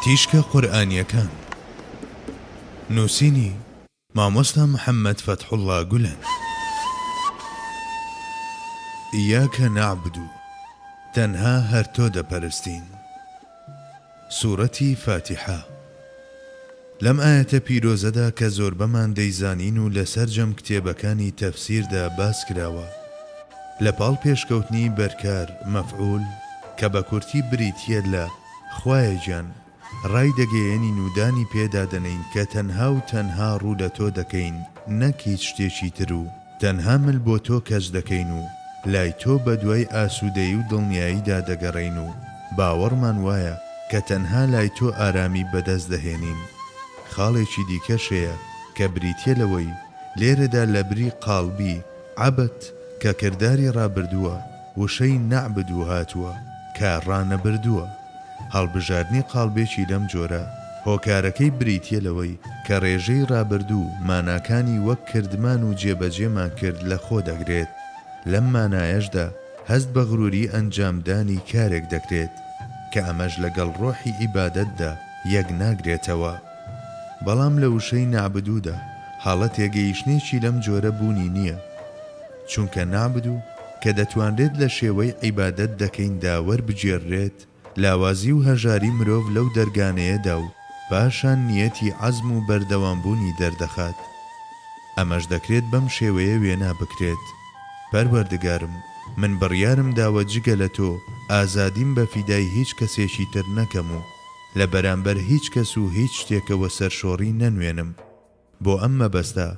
تیشکە قورئانیەکان نوسینی، مامۆستا محمد فەتحوڵا گولەن. ایاک نعبد تەنها هەر تۆ دەپەرستین. سورەتی فاتیحە. لەم ئایەتە پیرۆزەدا کە زۆربەمان دەیزانین و لە سەرجەم کتێبەکانی تەفسیردا باس کراوە، لە پاڵ پێشکەوتنی بەرکار، مەفعول، کە بە کورتی بریتییە لە، خوایە گیان، ڕایدەگەیەنین و دانی پێدا دەنێین کە تەنها و تەنها ڕوو لە تۆ دەکەین نەک هیچ شتێکی تر و، تەنها مل بۆ تۆ کەچ دەکەین و لای تۆ بەدوای ئاسودەیی و دڵنیاییدا دەگەڕێین و باوەڕمان وایە کە تەنها لای تۆ ئارامی بەدەست دەهێنین. خاڵێکی دیکەش هەیە کە بریتیە لەوەی لێرەدا لەبری قاڵبی، عبت، کە کرداری ڕابردووە، وشەی نەعبدو هاتووە کە ڕانەبردووە. هەڵبژاردنی قاڵبێکی لەم جۆرە هۆکارەکەی بریتییە لەوەی کە ڕێژەی ڕابردوو ماناکانی وەک کردمان و جێبەجێمان کرد لەخۆ دەگرێت، لەم مانایەشدا هەست بە غروری ئەنجامدانی کارێک دەکرێت، کە ئەمەش لەگەڵ ڕۆحی عیبادەتدا یەک ناگرێتەوە. بەڵام لە وشەی نەعبدودا هەڵە تێگەیشتنێکی لەم جۆرە بوونی نییە. چونکە نابد و کە دەتوانرێت لە شێوەی عیبادەت دەکەیندا وەربگێررێت، لاوازی و هەژاری مرۆڤ لەو دەرگانەیەدا و پاشان نیەتی عەزم و بەردەوامبوونی دەردەخات. ئەمەش دەکرێت بەم شێوەیە وێنا بکرێت، پەروەردگارم، من بڕیارم داوە جگە لە تۆ ئازادیم بە فیدای هیچ کەسێکی تر نەکەم و لە بەرامبەر هیچ کەس و هیچ شتێکەوە سەرشۆڕی نەنوێنم، بۆ ئەم مەبەستە،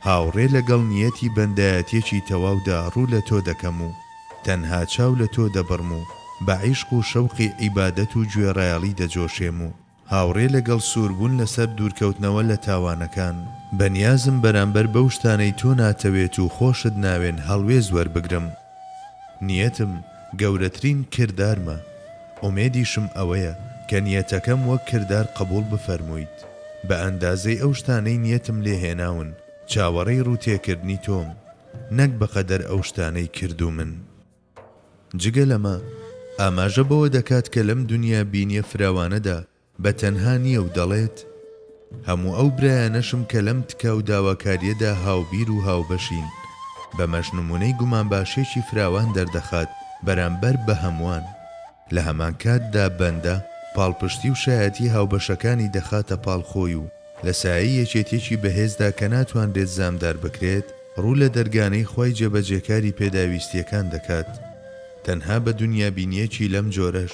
هاوڕێ لەگەڵ نیەتی بەندایەتیەکی تەواودا ڕوو لە تۆ دەکەم و تەنها چاو لە تۆ دەبڕم و بە عیشق و شەوقی عیبادەت و گوێڕایەڵی دەجۆشێم و هاوڕێ لەگەڵ سووربوون لەسەر دوورکەوتنەوە لە تاوانەکان بەنیازم بەرامبەر بەو شتانەی تۆ ناتەوێت و خۆشت ناوێن هەڵوێست وەربگرم. نیەتم گەورەترین کردارمە، ئومێدیشم ئەوەیە کە نیەتەکەم وەک کردار قبوڵ بفەرموویت، بە ئەندازەی ئەو شتانەی نیەتم لێ هێناون چاوەڕێی ڕووتێکردنی تۆم، نەک بەقەدەر ئەو شتانەی کردوومن. جگە لەمە ئاماژە بەوە دەکات کە لەم دونیا بینیە فراوانەدا بە تەنها نییە و دەڵێت، هەموو ئەو برایانەشم کە لەم تکا و داواکارییەدا هاوبیر و هاوبەشین، بەمەش نموونەی گومانباشییەکی فراوان دەردەخات بەرامبەر بە هەمووان. لە هەمان کاتدا بەندە پاڵپشتی و شایەتی هاوبەشەکانی دەخاتە پاڵ خۆی و لە سایەی یەکێتییەکی بەهێزدا کە ناتوانرێت زامدار بکرێت، ڕوو لە دەرگانەی خوای جێبەجێکاری پێداویستییەکان دەکات. تەنها بە دونیابینییەکی لەم جۆرەش،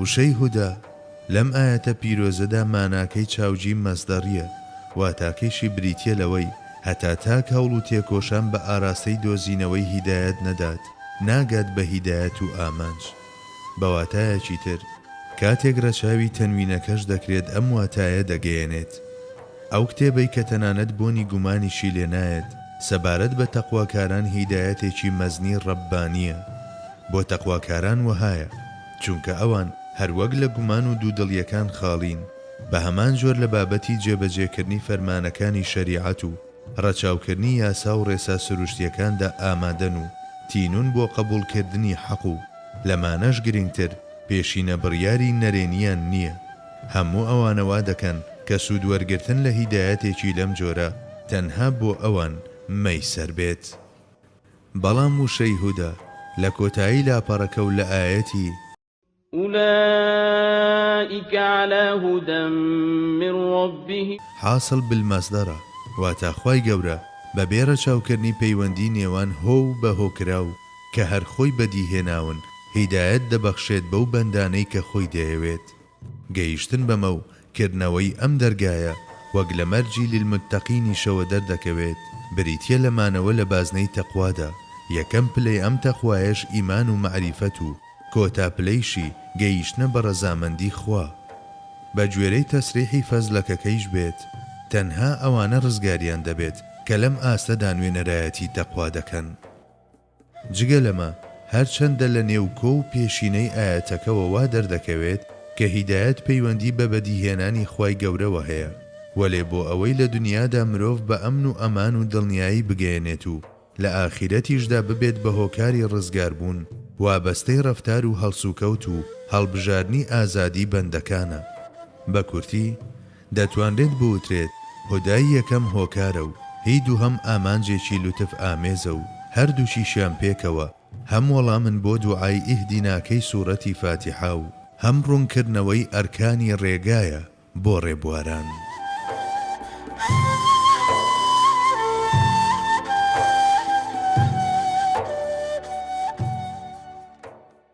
وشەی هودە لەم ئایەتە پیرۆزەدا ماناکەی چاوجی مەسدەریە، واتاکەیشی بریتیە لەوەی هەتا تاک هەوڵ و تێکۆشان بە ئاراستەی دۆزینەوەی هیدایەت نەدات ناگات بە هیدایەت و ئامانج. بە واتایەکی تر کاتێک رەچاوی تەنوینەکەش دەکرێت ئەم واتایە دەگەیەنێت. ئەو کتێبەی کە تەنانەت بۆنی گومانیشی لێ نایەت سەبارەت بە تەقواکاران هیدایەتێکی مەزنی رەببانیە بۆ تەقواکاران وەهایە، چونکە ئەوان هەر وەک لە گومان و دوودڵییەکان خاڵین، بە هەمان جۆر لە بابەتی جێبەجێکردنی فەرمانەکانی شەریعەت و ڕەچاوکردنی یاسا و ڕێسا سروشتییەکاندا ئامادەن و تینوون بۆ قەبووڵکردنی حەق و لەمانەش گرنگتر پێشینە بڕیاری نەرێنییان نییە. هەموو ئەوانە وا دەکەن کە سوودوەرگرتن لە هیدایەتێکی لەم جۆرە تەنها بۆ ئەوان مەیسەر بێت. بەڵام وشەی هودە لە کۆتایی لاپەڕەکە و لە ئایەتی. اولئک علی هدی من ربهم. حاصل بالمصدرە، واتە خوای گەورە بە بێ رەچاوکردنی پەیوەندی نێوان هۆ و بە هۆکراو کە هەر خۆی بەدیهێناون هیدایەت دەبەخشێت بەو بەندانەی کە خۆی دەیەوێت. گەیشتن بەمە و کردنەوەی ئەم دەرگایە وەک لە مەرجی للمتقینیشەوە دەردەکەوێت بریتیە لە مانەوە لە بازنەی تەقوادا، یەکەم پلەی ئەم تەقوایەش ئیمان و مەعریفەت و کۆتا پلەیشی گەیشتنە بە ڕەزامەندی خوا. بە گوێرەی تەسریحی فەزلەکەکەیش بێت تەنها ئەوانە ڕزگاریان دەبێت کە لەم ئاستەدا نوێنەرایەتی تەقوا دەکەن. جگە لەمە، هەرچەندە لە نێوکۆ و پێشینەی ئایەتەکەوە وا دەردەکەوێت کە هیدایەت پەیوەندی بە بەدیهێنانی خوای گەورەوە هەیە، وەلێ بۆ ئەوەی لە دنیادا مرۆڤ بە ئەمن و ئەمان و دڵنیایی بگەیەنێت و لە ئاخیرەتیشدا ببێت بە هۆکاری ڕزگاربوون، وابەستەی ڕەفتار و هەڵسوکەوت و هەڵبژارنی ئازادی بەندەکانە. بە کورتی، دەتوانرێت بوترێت هودای یەکەم هۆکارە و هی دووهەم ئامانجێکی لوتف ئامێزە و هەردووکیشیان پێکەوە هەم وەڵامن بۆ دوعای ئیهدیناکەی سورەتی فاتیحە و هەم ڕوونکردنەوەی ئەرکانی ڕێگایە بۆ ڕێبواران.